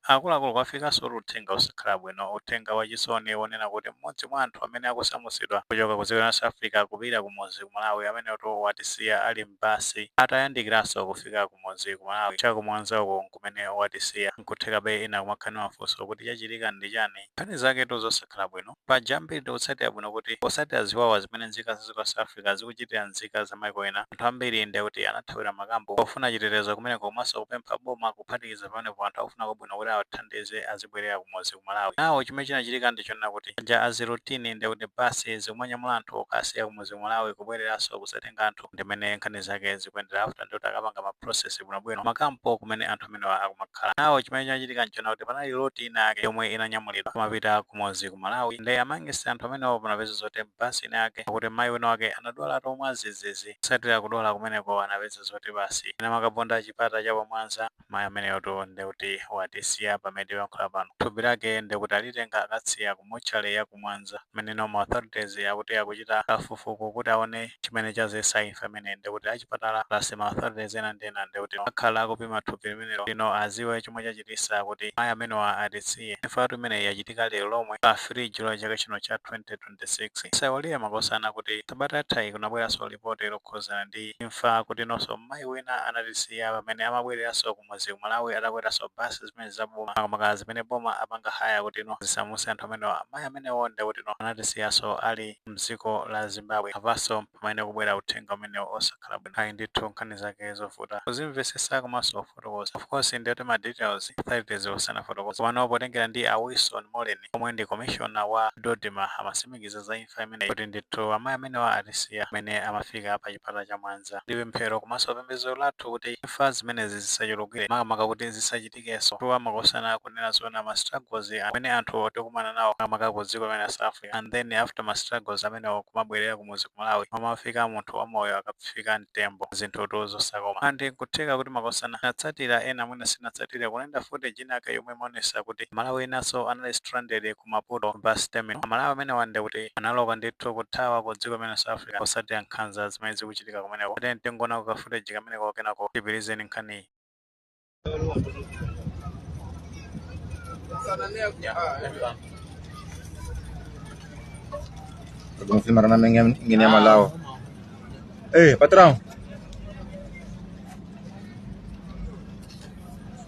Akuluakulu kwafikansotu uthenga osakhala bwino, uthenga wachisoni wonena kuti m'modzi mwa anthu amene akusamutsidwa kuchoka ku dziko lino la South Africa kupita kumudzi ku Malawi ameneyotu watisiya ali m'basi atayandikiranso kufika kumudzi ku Malawi cha ku Mwanza uku nkumene watisiya. Nkuthekabe ena kumakhala ndi mafunso kuti chachitika ndi chani? Nkhani zaketu zosakhala bwino. Paja ambiri tikutsatira bwino kuti posatira ziwawa zimene nzika za dziko la South Africa zikuchitira nzika za maiko ena anthu ambiri ndekuti anathawira makampu pofuna chitetezo kumeneko komanso kupempha boma kuphatikiza pamenepo anthu akufuna kwabwino kuti awathandize azibwerera kumudzi ku Malawi. Now chimene chinachitika ndichonena kuti paja as routine ndiye kuti bus zikumanyamula anthu kukasiya kumudzi ku Malawi kubweleranso kuzatenga anthu ndimene nkhani zake zikuyendera after ndiye kuti akapanga ma process bwinobwino kuma camp kumene anthu amenewa akumakhala. Now chimene chinachitika ndichonena kuti panali lot ina yake yomwe inanyamulidwa kumapita kumudzi ku Malawi nde amongst anthu amenewa panapeza zoti m'basi ina yake akuti mayi wina wake anadwalatu mwadzidzidzi. Kutsatira kudwala kumeneko anapeza zoti basi inamakaponda chipata cha pa Mwanza. Mayi ameneyotu nde kuti watisiya pamene tikuyankhula pano. Thupi lake nde kuti alitenga akasiya ku motchale ya ku Mwanza mmeneno ma authorities akuti akuchita kafukufuku kuti aone chimene chazesa imfa imeneyi nde kuti achipatala plus ma authorities ena ndi ena nde kuti akhala akupima thupi limenelo kutino aziwe chomwe chachitisa kuti mayi amenewa atisiye. Imfatu imeneyi yachitika lero lomwe pa 3 July chaka chino cha 20. 26. Tisaiwalire makosana kuti sabata yathayi kunabweranso lipoti lokhuzana ndi imfa kutinonso mmayi wina anatisiya pamene amabwereranso kumudzi ku Malawi atakweranso bus zimenezi za boma makamaka zimene boma lapanga hire kutino zisamuse anthu amenewa amayi amenewo ndekutino anatisiyanso ali mdziko la Zimbabwe apanso mpamene kukubwera uthenga umenewu osakhala bwino ayi ndithu nkhani zake zovuta kuzimvesesa komanso kufotokoza of course ndekuti ma details authorities sanafotokoze komano potengera ndi a Wilson Mollen omwe ndi komishona wa Dodma amatsimikiza za imfa imeneyi kuti ndithu amayi amenewa atisiya pamene amafika pa chipata cha Mwanza. Ndi pemphero komanso pembedzero lathu kuti imfa zimenezi zisachulukire makamaka kuti zisachitikenso chifukwa makosana kunena zoona ma struggles amene anthu tikumana nawo makamaka ku dziko limene la South Africa and then after ma struggles amenewo kumabwerera kumudzi ku Malawi m'malo mofika munthu wa moyo akafika mtembo zinthutu zosakoma and nkutheka kuti makosana tinatsatira ena mwina sitinatsatire kunayenda footage inayake yomwe imaonesa kuti amalawi enanso anali stranded ku Maputo bus terminal. Amalawi amenewa ndekuti analowa ndithu kuthawa ku dziko limene la South Africa kutsatira nkhanza zimene zikuchitika kumeneko. Tatiyeni tingoonako ka footage kameneko kenako tipitirize nkhaniyi. Kung si marana may ngin- nginamalaw. Eh, patrão.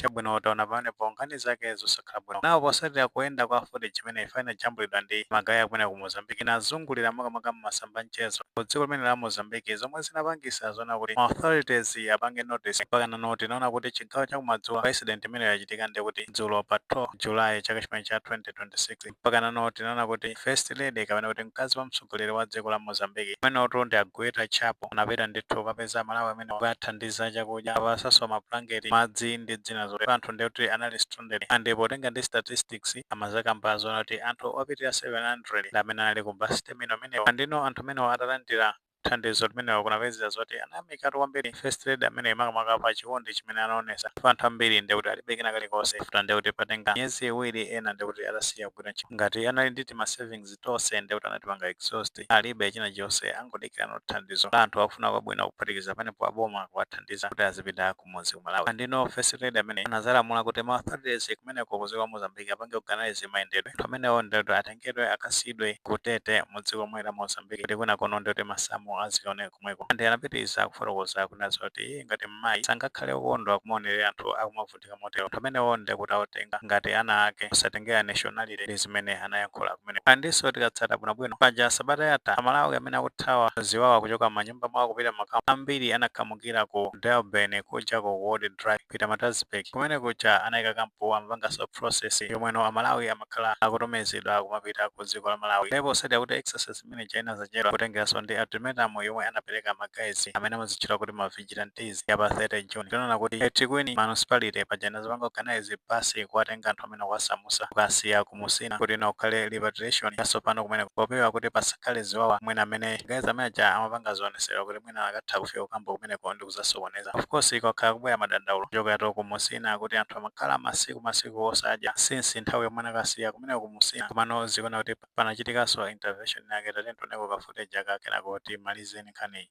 chabwino taona pamenepo nkhani zake zosakhala bwino apo posatira kuyenda kwa footage imene ija inajambulidwa ndi magaye akumeneko ku mozambique inazungulira makamaka m'masamba mchezo ku dziko limeneli la mozambique zomwe zinapangisa zona kuti ma authorities apange notice mpakana tinaona kuti chigawo chakumadzulo pa incident imeneyo yachitika ndi kuti dzulo pa 12 july chaka chimenechi cha 2026 Mpakanano tinaona kuti First Lady kapena kuti mkazi wa mtsogoleri wa dziko la Mozambique amenotu ndi a Gueta Chapo anapita ndithu kukapeza Amalawi amenewa kuwathandiza chakudya, kuwapasanso mabulangeti, madzi ndi zina zotero. Anthuwa ndiye kuti anali stranded and potenga ndi statistics amazakamba zoona kuti anthu opitirira 700 ndi amene anali ku bus terminal imeneyo and you know anthu amenewa atalandira thandizo limenelo kunapezeka zoti anayamikatu kwambiri first lady ameneyi makamaka pa chikondi chimene anaonesa chifukwa anthu ambiri ndiye kuti alibe kena kalikonse after ndiye kuti patenga miyezi iwiri ena ndiye kuti atasiya kugwira ntchito ngati anali ndi tima savings tonse ndiye kuti anatipanga exhaust alibe china chonse angodikirira thandizo la anthu akufuna kwabwino kuphatikizapo panopo aboma kuwathandiza kuti azipitako kumudzi ku Malawi. And you know first lady ameneyi anazalamula kuti ma authorities kumeneko ku dziko la Mozambique apange organize mayendedwe. Anthu amenewo ndiye kuti atengedwe akasiyidwe ku Tete mu dziko lomwelo la Mozambique kuti kwinakono ndiye kuti masamu azikaoneka komweko. And anapitiriza kufotokoza kunena zoti iye ngati mmayi sangakhale wokondwa kumaonerera anthu akumavutika motero. Anthu amenewo ndiye kuti awatenga ngati ana ake posatengera nationality ndi zimene anayankhula kumeneko. And so tikatsata bwinobwino, paja sabata yatha a Malawi amene akuthawa ziwawa kuchoka m'manyumba mba mwawo kupita m'makampu ambiri anakhamukira ku Durban kuja ku Old Drive-In, Pietermaritzburg. Kumene kuja anaika kampu amapanganso process yomweno Amalawi amakhala akutumizidwa kumapita ku dziko la Malawi. Ndipo poti akuti exercise imene ija inazachedwa kutengeranso ndi ultimatum yomwe anapereka ma guys amene amazitchula kuti ma vigilantes ya pa 30 June. Tinaona kuti eThekwini Municipality paja inazapanga organize basi kuwatenga anthu amenewa kuwasamutsa kukasiya ku Musina kuti ikakhale repatriation yasopano kumeneko popewa kuti pasakhale ziwawa mwina ma guys amene aja amapanga zionesero kuti mwina akatha kufika kukampu kumeneko ndi kuzasokoneza of course kwakhala kukubwera madandaulo kuchokeratu ku Musina kuti anthu amakhala masiku masiku osadya since nthawi yomwe anakasiyidwa kumeneko ku Musina komano tikuona kuti panachitikanso intervention yake tatiyeni tioneko ka footage aka kenako timalize nkhaniyi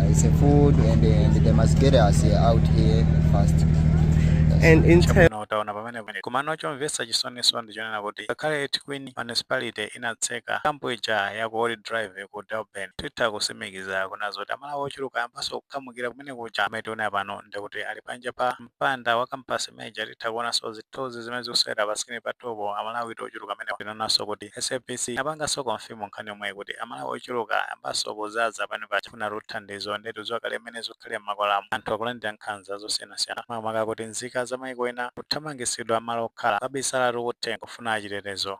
It's food and, and they must get us out here fast. And in terms Chabwino taona pamenepo komano chomvetsa chisoniso ndi chonena kuti ngakhale eThekwini municipality inatseka kampu ija ya ku Old drive ku durban titha kusimikiza kunena zoti amalawi ochuluka ayambanso kukhamukira kumene kuja mmene tikuonera pano ndikuti ali panja pa mpanda wa kampasi imene ija titha kuonanso zithunzi zimene zikuseweredwa pa screen panupo, Amalawitu ochuluka amenewa. Tinaonanso kuti SABC inapanganso confirm nkhani yomweyi kuti Amalawi ochuluka ayambanso kuzaza panja paja kufunatu thandizo ndiye tikudziwa kale mmene zikukhalira m'makwalamo, anthu akulandira nkhanza zosiyanasiyana makamaka kuti nzika za maiko ena kuthamangitsidwa m'malo okhala, kukabisalatu kuthengo kufuna chitetezo.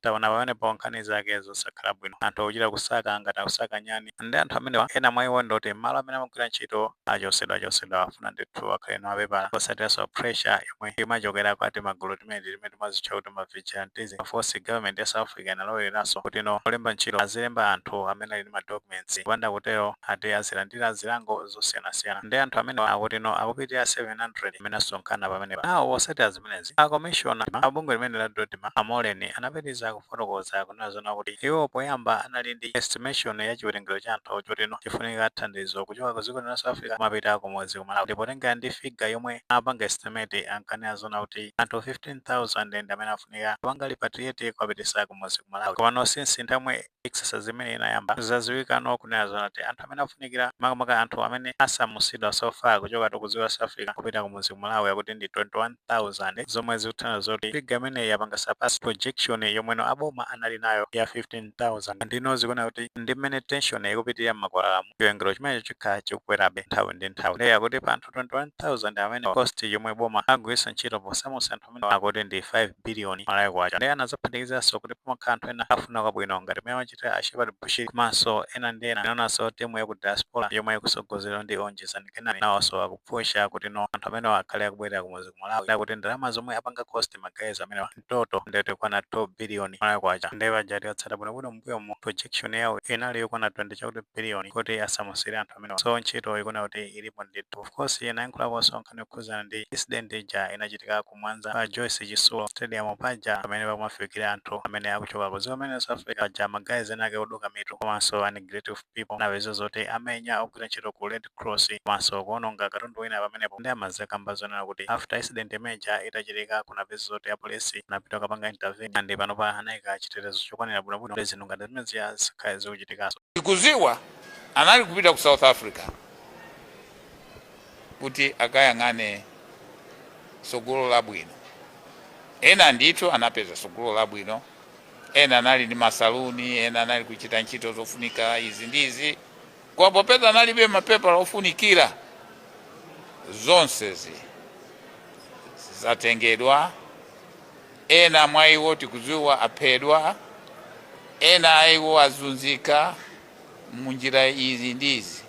Taona pamenepo nkhani zake zosakhala bwino. Anthu akuchita kusaka ngati akusaka nyani. Ndi anthu amenewa, ena mwa iwo ndi oti malo amene amagwira ntchito achotsedwachotsedwa afuna ndithu akhale ndi mapepala, kutsatiranso pressure yomwe imachokera kwa timagulu timeneti timene timazitcha kuti ma vigilantism. Of course government ya South Africa inalowereranso kuti no olemba ntchito azilemba anthu amene ali ndi ma documents, kupanda kutero akuti azilandira zilango zosiyanasiyana. Nde anthu amenewa akuti no akupitirira 700 amene asonkhana pamenepa. Nawo osati az. zimenezi. A komishona a bungwe limene la Dodma, a Moleni, anapitiriza kufotokoza kunena zoona kuti iwo poyamba anali ndi estimation ya chiwerengero cha anthu choti no chifunika thandizo kuchoka ku dziko lino la South Africa kumapita kumudzi ku Malawi. Ndipo potengera ndi figure yomwe anapanga estimate, ankanena zoona kuti anthu 15,000 ndi amene afunika kupanga repatriate kuwapititsa kumudzi ku Malawi. Komano since nthawi yomwe exercise imene inayamba zaziwikano kunena zoona kuti anthu amene afunikira makamaka anthu amene asamusidwa so far kuchoka to ku dziko la South Africa kupita kumudzi ku Malawi akuti ndi 21,000 zomwe zikutanthauza zoti figure imeneyi yapanga surpass projection yomwe no aboma anali nayo ya 15,000 ndi no zikuoneka kuti ndi mmene tension ikupitirira m'makwalalamu chiwerengero chimenecho chikhala chikukwerabe nthawi ndi nthawi ndiye akuti pa anthu 21,000 amene cost yomwe boma agwiritsa ntchito posamusa anthu amene akuti ndi 5 billion malawi kwacha ndiye anazaphatikizanso kuti pamakhala anthu ena akufuna kwabwino ngati mmene achitira a Shepherd Bushiri komanso ena ndi ena tinaonanso timu ya ku diaspora yomwe ikusogozedwa ndi Onjezani Kenani nawonso akupusha kuti no anthu amenewa akhale akubwerera kumudzi ku Malawi ndiye kuti ndalama zomwe apanga cost ma guys amenewa mu total nde zikukwana 2 billion malawi kwacha ndiye paja tikatsata bwinobwino mmbuyomu projection yawo inali yokwana 20 chakuti billion kuti asamusire anthu amenewa so ntchito ikuoneka kuti ilipo ndithu of course anayankhulaponso nkhani yokhuzana ndi incident ija inachitika ku mwanza pa joyce chisulo stadium paja pamene pakumafikira anthu amene akuchoka ku dziko limene la south africa paja ma guys ena ake oduka mitu komanso anegretive people anapezeka zoti amenya ogwira ntchito ku red cross komanso kuononga katundu wina pamenepo nde amadzakamba zoona kuti after incident imeja itachitika kunapezeka zoti apolisi anapita kukapanga intervene and panopa anayika chitetezo chokwanira bwinobwino kuti zinthu ngati zimenezi zisakhale zikuchitikanso Tikuziwa anali kupita ku South Africa kuti akayang'ane sogolo labwino. Ena ndithu anapeza sogolo labwino, ena anali ndi masaluni, ena anali kuchita ntchito zofunika izi ndi izi, koma popeza analibe mapepala ofunikira, zonsezi zatengedwa Ena mwa iwo tikudziwa aphedwa, ena a iwo azunzika mu njira izi ndi izi.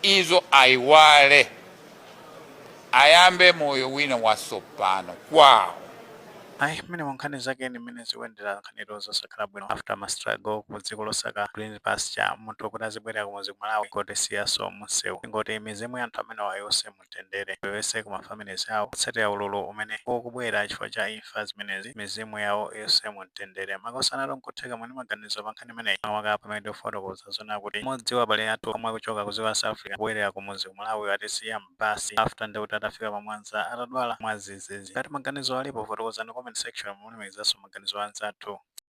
Izo aiwale, ayambe moyo wina watsopano kwawo. Ayi mmenemu nkhani zake eni mmene zikuyendera, nkhanitu zosakhala bwino, after ma struggle ku dziko losakira green pasture, munthu oti azibwerera kumuzi ku Malawi kungotisiyaso mu nsewu. Tingoti mizimu ya anthu amenewa iuse mu. mumtendere onse ku ma families awo kutsatira ululu umene ukubwera chifukwa cha imfa zimenezi mizimu yawo iwuse mumtendere makosana tu nkutheka muli ndi maganizo pa nkhani imeneyi makamaka pamene tikufotokoza zonena kuti mmodzi wa abale athu omwe akuchoka ku dziko la South Africa kubwelera ku mudzi ku Malawi watisiya m'basi after nde kuti atafika pa Mwanza atadwala mwadzidzidzi ngati maganizo alipo fotokozani comment section momulemekezanso maganizo a anzathu.